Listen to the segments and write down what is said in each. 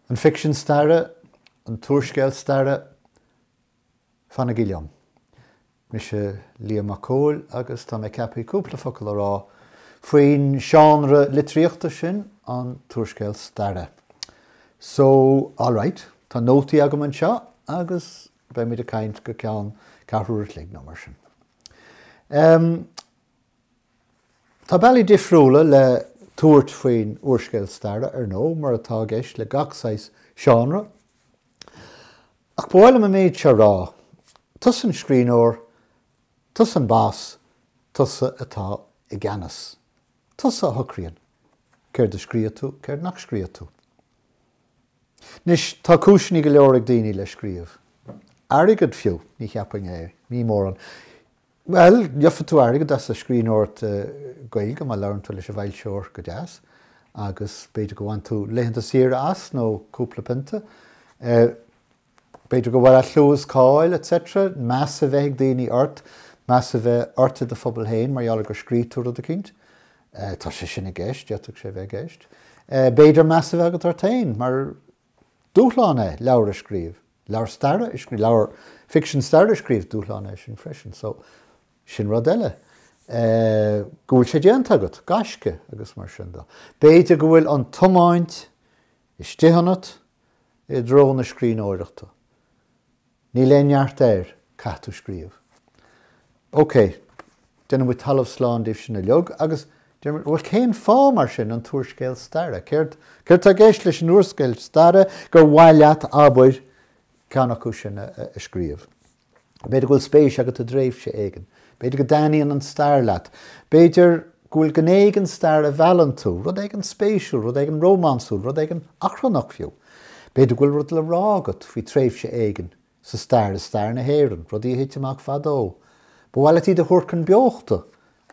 An ficsean staire, an t-úrscéal staire, fanaigí liom. Mise Liam Mac Cóil agus tá mé ceaptha cúpla focal a rá faoin seánra litríochta sin, an t-úrscéal staire. So, alright, tá nótaí agam anseo agus Beimid ag caint go ceann ceathrú uair an chloig nó mar sin. Tá bealaí difriúla le tabhairt faoin úrscéal staire, ar ndóigh, mar atá i gceist le gach saghas seánra. Ach ba mhaith liom an méid seo a rá, tusa an scríbhneoir, tusa an bas, tusa atá i gceannas. Tusa a shocraíonn céard a scríobhfas tú, céard nach scríobhfaidh tú. Anois, tá cúiseanna go leor ag daoine le scríobh. Airgead, fiú. Ní cheapfainn é. Ní mórán. Bhuel, gheofá tú airgead as an scríbhneoireacht Gaeilge má labhraíonn tú leis an bhfoilsitheoir go deas agus b'fhéidir go bhfaigheann tú laethanta saoire as nó cúpla pionta. B'fhéidir go bhfuil clú is cáil, etc. meas a bheith ag daoine ort, meas a bheith ort i do phobal féin mar gheall ar gur scríobh tú rud eicínt. Tá sé sin i gceist, d'fhéadfadh sé a bheith i gceist. B'fhéidir meas a bheith agat ort féin mar is dúshlán é leabhar a scríobh, leabhar staire a scríobh, leabhar ficsean staire a scríobh, dúshlán é sin freisin. So, sin rud eile. Go bhfuil sé déanta agat, gaisce agus mar sin de. B'fhéidir go bhfuil an tiomáint Istigh ionat, i dtreo na scríbhneoireachta. Níl aon neart air, caithfidh tú scríobh. OK, déanann muid talamh slán díobh sin uilig agus, bhuel, cén fáth, mar sin, an t-úrscéal staire? Céard tá i gceist leis an úrscéal staire gur mhaith leat, abair, ceann acu sin a scríobh? B'fhéidir go bhfuil spéis agat i dtréimhse éigin. B'fhéidir go dtaitníonn an stair leat. B'fhéidir go bhfuil gné den stair a mheallann tú, rud éigin spéisiúil, rud éigin rómánsúil, rud éigin achrannach fiú. B'fhéidir go bhfuil rud le rá agat faoi thréimhse éigin sa stair, i stair na hÉireann, rudaí a thit amach fadó. Ba mhaith leat iad a thabhairt chun beochta.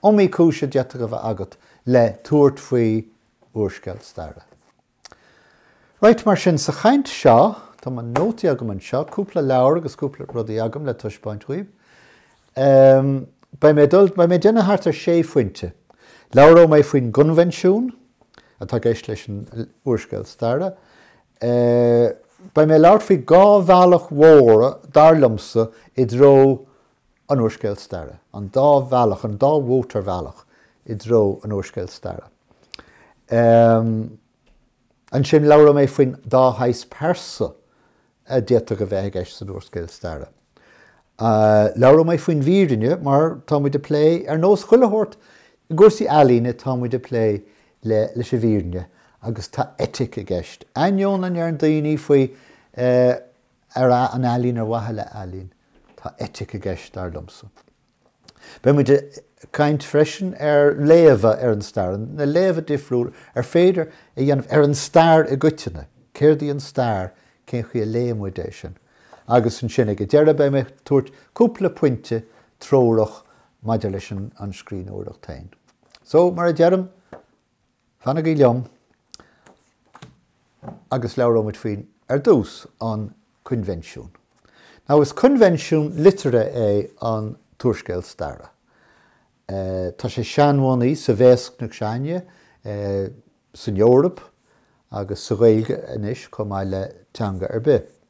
Iomaí cúis a d'fhéadfadh a bheith agat le tabhairt faoi úrscéal staire. Right, mar sin, sa chaint seo, tá mo nótaí agam anseo, cúpla leabhar agus cúpla rud agam le taispeáint dhaoibh. Beidh, beidh mé ag déanamh thart ar sé phointe. Labhróidh mé faoin gcoinbhinsiún atá i gceist leis an úrscéal staire. Beidh mé ag labhairt faoi dhá bhealach mhóra, dar liomsa, i dtreo. an úrscéil staire, an dá bhealach, an dá mhótarbhealach i dtreo an úrscéil staire. Ansin labhróidh mé faoin dá shaghas pearsa a d'fhéadfadh a bheith i gceist san úrscéal staire. Labhróidh mé faoin bhfírinne mar tá muid ag plé, ar nós chuile shórt i gcúrsaí ealaíne, tá muid ag plé leis an bhfírinne agus tá eitic i gceist, ainneoin a ndeireann daoine faoi. ar an ealaín ar mhaithe le ealaín. Tá eitic i gceist, dar liomsa. Beidh muid ag caint freisin ar léamha ar an stair, na léamha difriúla ar féidir a dhéanamh ar an stair i gcoitinne, céard í an stair, cén chaoi a léann muid é sin. Agus ansin ag an deireadh beidh mé ag tabhairt cúpla pointe treorach maidir leis an scríbhneoireacht féin. So, mar a deirim, Fanaigí liom agus labhróimid faoin, ar dtús, an Coinbhinsiún. Now, is coinbhinsiún liteartha é an t-úrscéal staire. Tá sé seanbhunaithe sa bhéascna s'againne san Eoraip agus sa Ghaeilge anois chomh maith le teanga ar bith.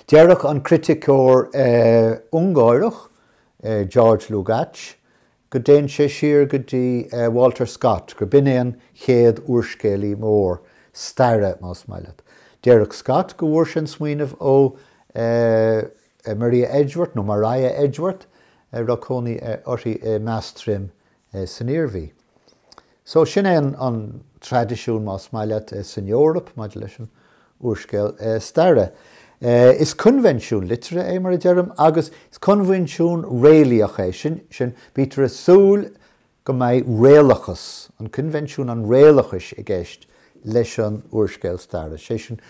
Déarfadh an criticeoir Ungáireach, George Lukács, go dtéann sé siar go dtí Walter Scott, gur b'in é an chéad úrscéalaí mór staire, más maith leat. Déarfadh Scott go bhfuair sé an smaoineamh ó Maria Edgeworth, nó Mariah Edgeworth, a raibh cónaí uirthi i Meathas Troim san Iarmhí. So, sin é an traidisiún, más maith leat, san Eoraip maidir leis an úrscéal staire. Is coinbhinsiún liteartha é, mar a deirim, agus is coinbhinsiún réalaíoch é. Sin, bítear ag súil go mbeidh réalachas, an coinbhinsiún an réalachais i gceist leis an úrscéal staire, sé sin,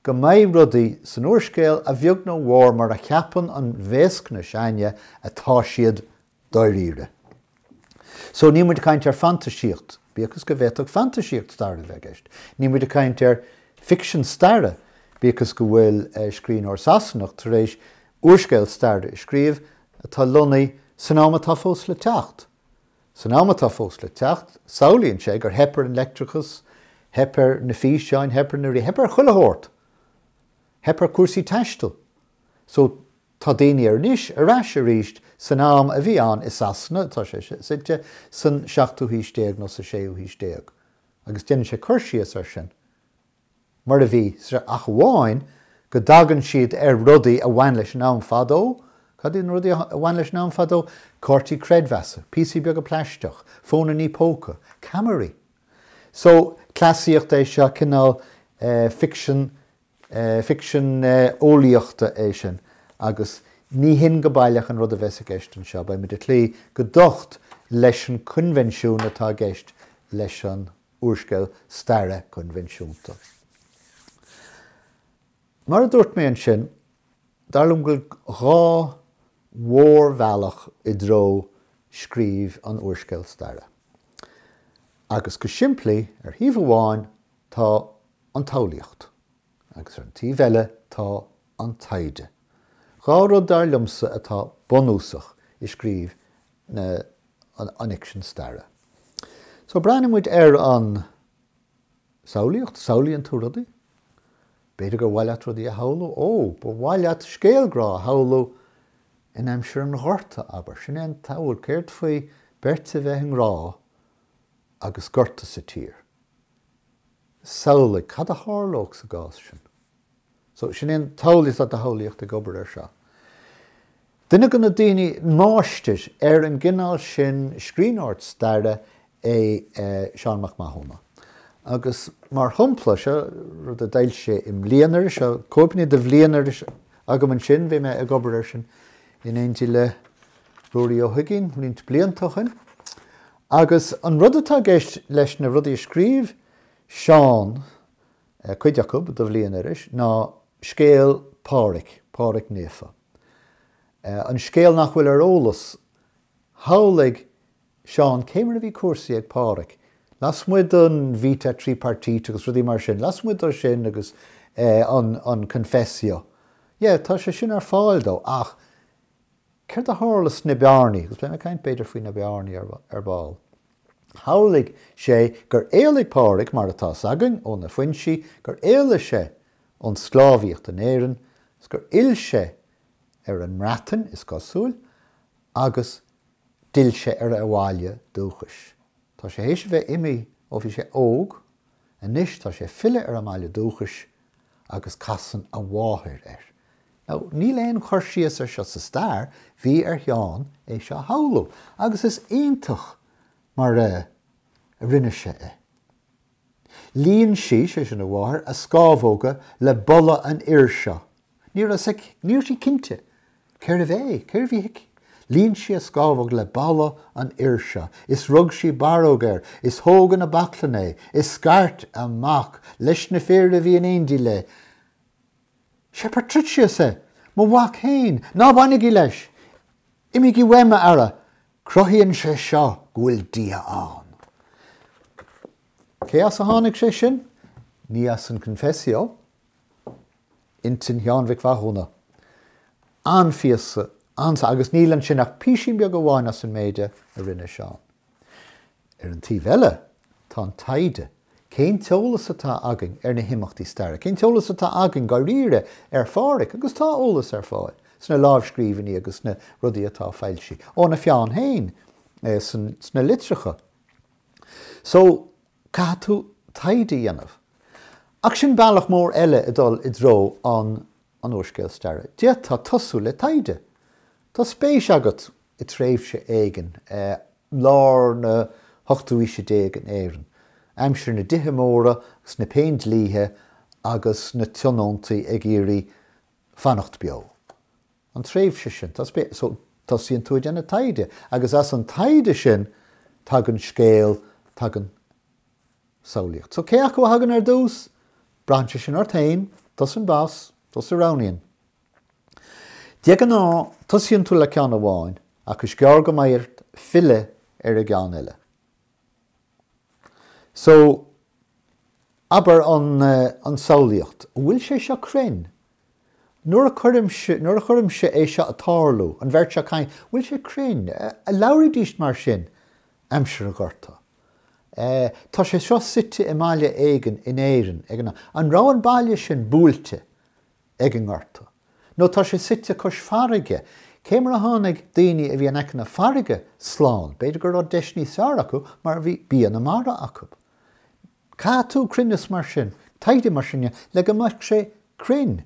go mbeidh rudaí san úrscéal a bheag nó a mhór mar a cheapann an bhéascna s'againne atá siad dáiríre. So, níl muid ag caint ar fantaisíocht, bíodh is go bhféadfadh fantaisíocht staire a bheith i gceist. Níl muid ag caint ar ficsean staire, bíodh is go bhfuil scríbhneoir Sasanach tar éis úrscéal staire a scríobh atá lonnaithe san am atá fós le teacht. San am atá fós le teacht, samhlaíonn sé gur theip ar an leictreachas, theip ar na físeáin, theip ar na, theip ar chuile shórt. Theip ar chúrsaí taistil. So, Tá daoine ar, anois ar ais arís san am a bhí ann i Sasana, tá sé suite san seachtú haois déag nó sa séú haois déag, agus déanann sé cur síos air sin mar a bhí, ach amháin go dtagann siad ar rudaí a bhain leis an am fadó. Cad iad na rudaí a bhain leis an am fadó? Cártaí creidmheasa, píosaí beaga plaisteach, fónannaí póca, ceamaraí. So, cleasaíocht é seo, cineál ficsean ficsean eolaíochta é sin agus ní hin go baileach an rud a bheas i gceist anseo. Beidh muid ag cloí go docht leis an coinbhinsiún atá i gceist leis an úrscéal staire coinbhinsiúnta. Mar a dúirt mé ansin, dar liom go bhfuil dhá mhórbhealach i dtreo scríobh an úrscéil staire. Agus go simplí, ar thaobh amháin tá an tsamhlaíocht, agus ar an taobh eile tá an taighde, dhá rud dar liomsa atá bunúsach i scríobh an fhicsin staire. So, breathnóidh muid ar an samhlaíocht, samhlaíonn tú rudaí, b'fhéidir gur mhaith leat rudaí a shamhlú, ó, ba mhaith leat scéal grá a shamhlú in aimsir an Ghorta, abair, sin é an tsamhail, céard faoi beirt a bheith i ngrá agus gorta sa tír? samhlaigh cad a tharlódh sa gcás sin. So, sin é an tsamhlaíocht, tá do shamhlaíocht ag obair air seo. Duine de na daoine, máistir ar an gcineál sin scríbhneoireacht staire é Seán Mac Mathúna agus mar shampla, seo rud a d'fhoilsigh sé i mBliainiris, seo cóipeanna de Bhliainiris agam ansin, bhí mé ag obair air sin in éindí le Ruairí Ó hUiginn roinnt blianta ó shin. Agus an rud atá i gceist leis na rudaí a scríobh Seán, cuid acu, do Bhliainiris, ná scéal Pháraic, Páraic Naofa. An scéal nach bhfuil ar eolas, shamhlaigh Seán, cé mar a bhí cúrsaí ag Páraic, lasmuigh den Vita Tripartite agus rudaí mar sin, lasmuigh de sin agus an Confessio. Yeah, tá sé sin ar fáil dó ach Céard a tharla sna bearnaí? Agus beidh mé ag caint b'fhéidir faoi na bearnaí ar ball. Shamhlaigh sé gur éalaigh Páraic, mar atá 's againn, ó na foinsí, gur éalaigh sé ón sclábhaíocht in Éirinn, 's gur fhill sé ar an mBreatain, is cosúil, agus d'fhill sé ar a bhaile dúchais. Tá sé théis a bheith imí ó bhí sé óg, anois tá sé ag filleadh ar a bhaile dúchais, agus casann a mháthair air. Now, níl aon chur síos ar seo sa stair, bhí ar Sheán é seo a shamhlú agus is iontach mar a rinne sé é. Líon sí, sé sin a mháthair, a scámhóga le boladh an fhir seo. Ní raibh sí cinnte Cérbh é? Cérbh í? Líon sí a scámhóg le boladh an fhir seo is rug sí barróg air is thóg ina baclainn é is scairt amach leis na fir a bhí in éindí léi, 'Sé Patricius é! Mo mhac fhéin! Ná bainigí leis! Imígí uaim, a fheara! Cruthaíonn sé seo go bhfuil Dia ann. Cé as a tháinig sé sin? Ní as an Confessio. Intinn Sheáin Mhic Mhathúna. An-phíosa agus níl ansin ach písín beag amháin as an méid a rinne Seán. Ar an taobh eile, tá an taighde. Cén t-eolas atá againn ar na himeachtaí staire? Cén t-eolas atá againn dáiríre ar Phádraic? Agus tá eolas ar fáil sna lámhscríbhinní agus sna rudaí atá foilsithe óna pheann féin sna litreacha. So, Caithfidh tú taighde a dhéanamh. Ach sin bealach mór eile ag dul i dtreo an an úrscéal staire. D'fhéadfá tosú le taighde. Tá spéis agat i tréimhse éigin, lár an ochtú haois déag in Éirinn, aimsir na dtithe móra agus na péindlíthe agus na tionóntaí ag iarraidh fanacht beo. an tréimhse sin. Tosaíonn tú ag déanamh taighde agus as an taighde sin tagann scéal, tagann samhlaíocht. So cé acu a thagann ar dtús? Braitheann sé sin ort féin, tusa an boss, tusa a roghnaíonn. De ghnáth tosaíonn tú le ceann amháin ach is gearr go mbeidh ort filleadh ar an gceann eile. So, abair an an samhlaíocht, an bhfuil sé seo cruinn? Nuair a cuirimse, nuair a chuirimse é seo ag tarlú, an bheirt seo ag caint, an bhfuil sé cruinn? An labhraídís mar sin aimsir an Ghorta? Eh, tá sé seo suite i mbaile éigin in Éirinn ag an am. An raibh an baile sin buailte? ag an nGorta, nó tá sé suite cois farraige, cé mar a tháinig daoine a bhí in aice na farraige slán, b'fhéidir go raibh deis níos fearr acu mar bhí bia na mara acu. Caithfidh tú cruinneas mar sin, taighde mar sin a dhéanamh, le go mbeadh sé cruinn.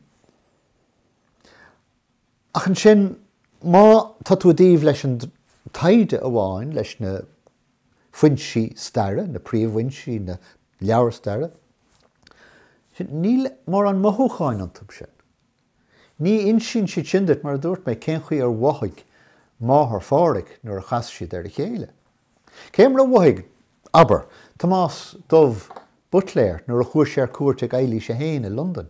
Ach ansin, má tá tú i dtaobh leis an taighde amháin, leis na foinsí staire, na príomhfhoinsí, na leabhair staire, níl mórán mothúcháin iontu sin. Ní insíonn siad sin duit, mar a dúirt mé, cén chaoi ar mhothaigh máthair Phádraic nuair a chas siad ar a chéile. Cén mar a mhothaigh, abair, Tomás Dubh Buitléir nuair a chuaigh sé ar cuairt chuig Eilís a hAon i Londain.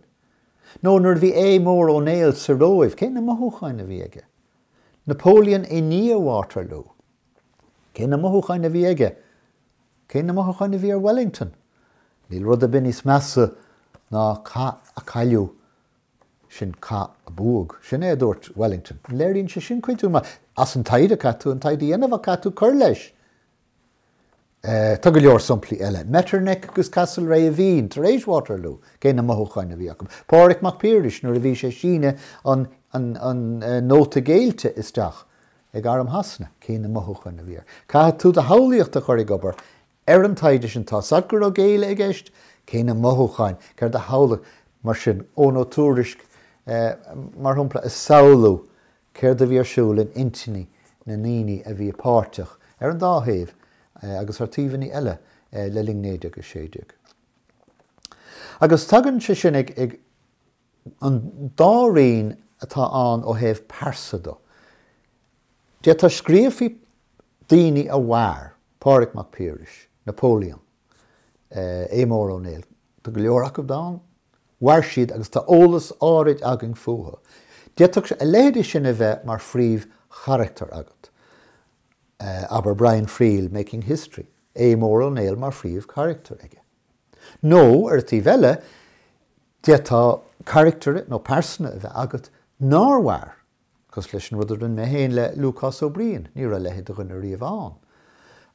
Nó nuair a bhí Aodh Mór Ó Néill sa Róimh, cé na mothúcháin a bhí aige? Napoleon i ndiaidh Waterloo, cé na mothúcháin a bhí aige? Cé na mothúcháin a bhí ar Wellington? Níl rud ar bith níos measa ná cath a chailleadh, sin cath a bhuach. Sin é a dúirt Wellington. An léiríonn sé sin coimhthiú maith? As an taighde, caithfidh tú an taighde a dhéanamh ach caithfidh tú cur leis. Tá go leor somplaí eile, Metternich agus Castlereagh i Vín tar éis Waterloo, cé na mothúcháin a bhí acu. Pádraig Mac Piarais nuair a bhí sé ag síneadh an an nóta géillte isteach ag arm Shasana, cé na mothúcháin a bhí air. Caithfidh tú do shamhlaíocht a chur ag obair ar an taighde sin. Tá a fhios agat go raibh géilleadh i gceist, cé na mothúcháin, céard a shamhlaigh mar sin, Eoin Ó Tuairisc, mar shampla, a samhlú Céard a bhí ar siúl in intinní na ndaoine a bhí páirteach ar an dá thaobh agus ar taobhanna eile le linn 1916? Agus tagann sé sin go an dá roinn atá ann ó thaobh pearsa de. D'fhéadfá scríobh faoi daoine a mhair, Pádhraic Mac Piarais, Napoleon, Aodh Mór Ó Néill. Tá go leor acub ann. Mhair siad agus tá eolas áirid againn fúthu. D'fhéadfá a leithéidí sin a bheith mar phríomhcharachtar agat. Abair Brian Friel, Making History, Aodh Mór Ó Néill mar phríomhcharachtar aige. Nó, ar an taobh eile, d'fhéadfá carachtar nó pearsana a bheith agat nár mhair Cosúil leis an rud a rinne mé féin le Lúcás Ó Briain, ní raibh a leithéid de dhuine riamh ann.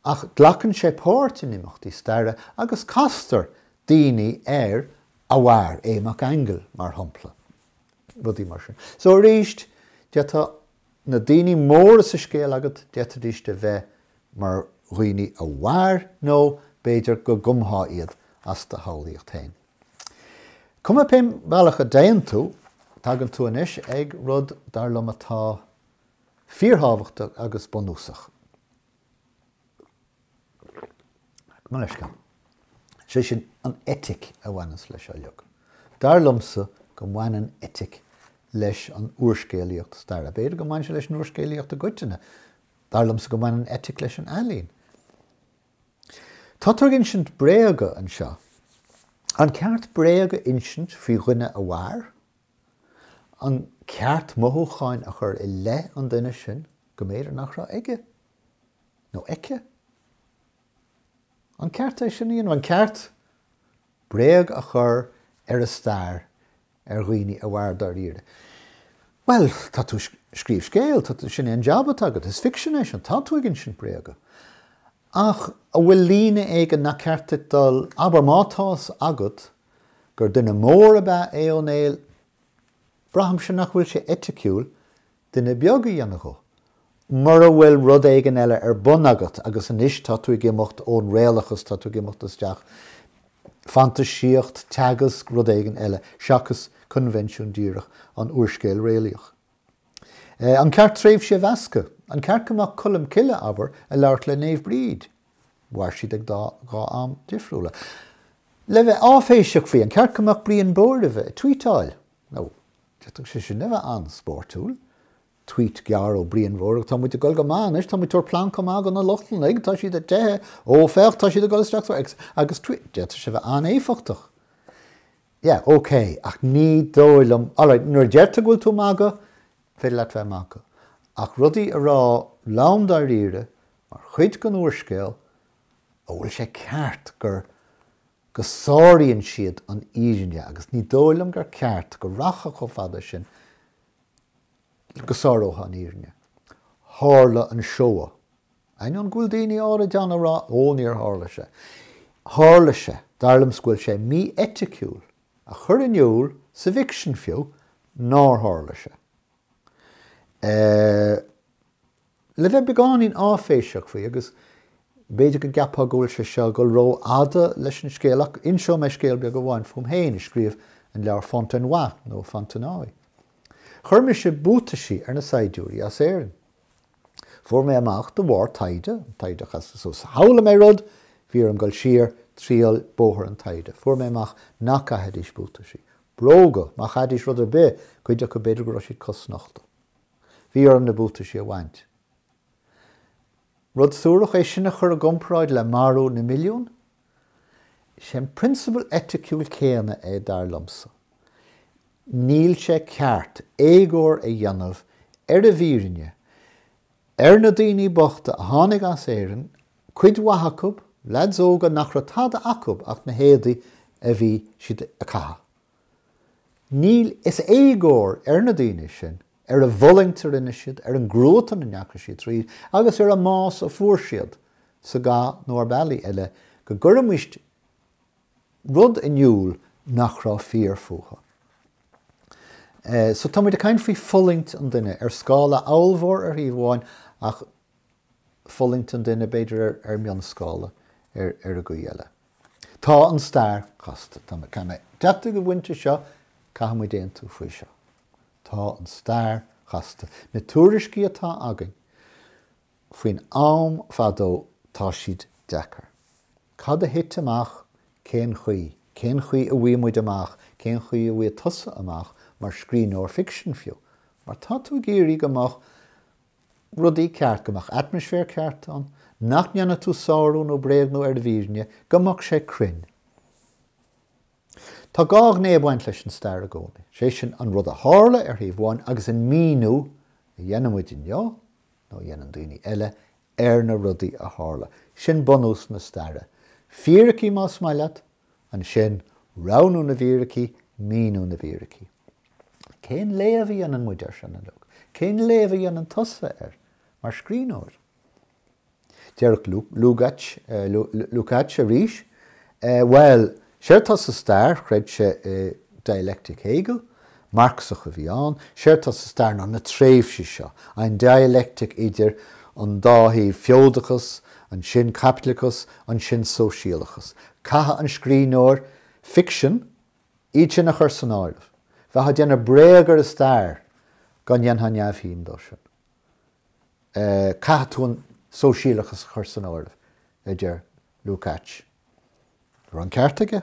Ach glacann sé páirt in imeachtaí staire agus castar daoine air a mhair, Aodh Mac Aingil, mar shompla. Rudaí mar sin. So arís, d'fhéadfadh na daoine móra sa scéal agat, d'fhéadfaidís a bheith mar dhaoine a mhair nó b'fhéidir go gcumfá iad as do shamhlaíocht féin. Cuma cén bealach a dtéann tú, tagann tú anois ag rud dar liom atá fíorthábhachtach agus bunúsach. Sé sin an eitic a bhaineanns leis uilig. Dar liomsa go mbaineann eitic leis an úrscéalaíocht staire. B'fhéidir go mbaineann sé leis an úrscéalaíocht i gcoitinne. Dar liomsa go mbaineann eitic leis an ealaín. Tá tú ag insint bréaga anseo. An ceart bréag a insint faoi dhuine a mhair? An ceart mothúcháin a chur i leith an duine sin go mb'fhéidir nach raibh aige nó aici? An ceart é sin a dhéanamh? An ceart bréag a chur ar an stair ar dhaoine a mhair dáiríre. Bhuel, tá tú ag scríobh scéil, sin é an jab atá agat, is ficsean é sin, tá tú ag insint bréaga. Ach an bhfuil líne éigin nach ceart duit dul, abair má tá a fhios agat gur duine mór ab ea é Ó Néill, braithimse nach bhfuil sé eiticiúil duine beag a dhéanamh dhó. Mura bhfuil rud éigin eile ar bun agat agus anois tá tú ag imeacht ón réalachas, tá tú ag imeacht isteach, fantaisíocht, teagasc, rud éigin eile seachas coinbhinsiún díreach an úrscéil réalaíoch. An ceart tréimhsí a mheascadh? An ceart go mbeadh Colm Cille, abair, ag labhairt le Naomh Bríd? Mhair siad ag dá dhá am difriúla. Le bheith áiféiseach faoi, an ceart go mbeadh Brian Bóirmhe ag tvuíteáil? Nó. D'fhéadfadh sé sin a bheith an-spóirtiúil. Tweet gearr ó Bhrian Bóirmhe, 'Tá muid ag dul go maith anois, tá muid ag tabhairt plancadh maith do na Lochlannaigh, tá siad ag teitheadh, ó, féach, tá siad ag dul isteach sa. Agus Tweet, d'fhéadfadh sé a bheith an-éifeachtach. Yeah, ok, ach ní dóigh liom, alright, nuair a deir tú go bhfuil tú ag magadh, is féidir leat bheith ag magadh. Ach rudaí a rá lom dáiríre, mar chuid den úrscéal, an bhfuil sé ceart gur. go sáraíonn siad an fhírinne agus ní dóigh liom gur ceart go rachfá chomh fada sin go sárófá an fhírinne. Tharla an Shoah. Ainneoin go bhfuil daoine áirid ann ag rá, Ó, níor tharla sé. Tharla sé. Dar liom go bhfuil sé mí-eiticiúil a chur in iúl, sa bhficsean fiú, nár tharla sé. Eh, Le bheith beagáinín áiféiseach faoi, agus b'fhéidir go gceapfá go bhfuil sé seo ag dul rófhada leis an scéal, ach inseoidh mé scéal beag amháin fúm féin, ag scríobh an leabhair Fontenoy, nó Fontenoy. Chuir mise buataisí ar na saighdiúirí as Éirinn. Fuair mé amach de bharr taighde, an taighde, chas sa, shamhlaigh mé rud, bhí orm dul siar, triall bóthar an taighde, fuair mé amach nach gcaithfidís buataisí. Bróga, má chaithfidís rud ar bith, cuid acu b'fhéidir go raibh siad cosnochta. Bhí orm na buataisí a bhaint. Rud suarach é sin a chur i gcomparáid le marú na milliún? Is é an prionsabal eiticiúil céanna é, dar liomsa. Níl sé ceart éagóir a dhéanamh ar an bhfírinne, ar na daoine bochta a tháinig as Éirinn, cuid mhaith acu, leaids óga nach raibh tada acu ach na héadaí a bhí siad a chaitheamh. Níl, is éagóir ar na daoine sin ar a bhfulaingt a rinne siad, ar an gcruatan a ndeachaigh siad tríd agus ar an mbás a fuair siad sa gcath nó ar bhealaí eile go gcuirfimis rud in iúl nach raibh fíor fúthu. So tá muid ag caint faoi fhulaingt an duine ar scála ollmhór ar thaobh amháin ach fulaingt an duine b'fhéidir ar mhionscála ar an gcaoi eile. Tá an stair casta. Tá mé caithfidh mé deacair a bhaint as seo. Caithfidh muid aontú faoi seo. Tá an stair chasta. Na tuairiscí atá againn faoin am fadó, tá siad deacair. Cad a thit amach? Cén chaoi? Cén chaoi a bhfaighidh muid amach? Cén chaoi a bhfaighidh tusa amach mar scríbhneoir ficsin fiú? Mar tá tú ag iarraidh go mbeadh rudaí ceart, go mbeadh atmaisféar ceart ann, nach ndéanfaidh tú sárú nó bréagnú ar an bhfírinne, go mbeadh sé cruinn. Tá dhá ghné ag baint leis an stair i gcónaí, is é sin an rud a tharla ar thaobh amháin agus an míniú a dhéanann muid inniu, nó a dhéanann daoine eile, ar na rudaí a tharla. Sin bunús na staire. Fíricí más maith leat ansin roghnú na bhfíricí, míniú na bhfíricí. Cén léamh a dhéanann muid air sin uilig? Cén léamh a dhéanann tusa air mar scríbhneoir? Déarfadh Lukács arís, Bhuel, séard tá sa stair, chreid sé i dialectic Hegel, Marxach a bhí ann. Séard atá sa stair ná na tréimhsí seo, an dialectic idir an dá thaobh, feodachas, ansin caipitleachas, ansin sóisialachas. Caithfidh an scríbhneoir ficsin iad sin a chur san áireamh. Bheifeá ag déanamh bréag ar an stair dá ndéanfá neamhshuim dó sin. Caithfidh tú an sóisialachas a chur san áireamh, a deir Lukács. Raibh an ceart aige?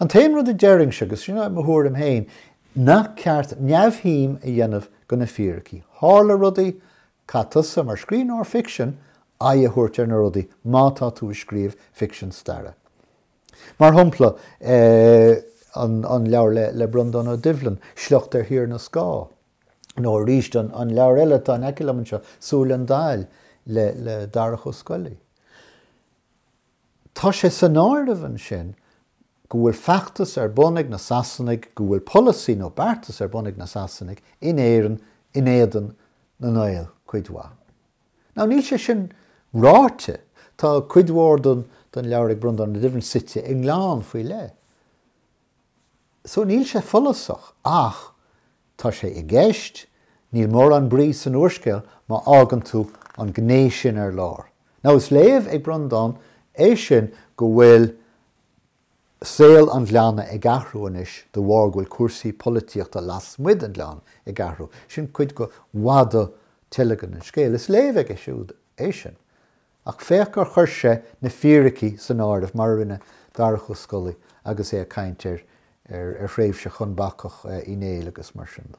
An t-aon rud a déarfainnse, agus sin mo thuairim féin, nach ceart neamhshuim a dhéanamh de na fíricí. Tharla rudaí, caithfidh tusa, mar scríbhneoir ficsin, aghaidh a thabhairt ar na rudaí má tá tú ag scríobh ficsean staire. Mar shompla, an leabhar le Breandán Ó Doibhlin, Sliocht ar Thír na Scáth, nó arís an leabhar eile atá in aice liom anseo, Súil an Daill le Darach Ó Scolaí. Tá sé san áireamh ansin go bhfuil feachtas ar bun ag na Sasanaigh, go bhfuil polasaí nó beartas ar bun ag na Sasanaigh in Éirinn in éadan na nGael cuid mhaith. Now níl sé sin ráite, tá cuid mhór den leabhar ag Breandán Ó Doibhlin suite i ngleann faoi leith, so níl sé follasach ach tá sé i gceist, níl mórán brí san úrscéal má fhágann tú an ghné sin ar lár. Now is léamh ag Breandán é sin go bhfuil saol an ghleanna ag athrú anois de bharr go bhfuil cúrsaí polaitíochta lasmuigh den ghleann ag athrú, sin cuid go bhfada teilgean an scéil, is léamh aige siúd é sin. Ach féach gur chuir sé na fíricí san áireamh, mar a rinne Darach Ó Scolaí agus é ag caint ar thréimhse Chonn Bacach Uí Néill agus mar sin de.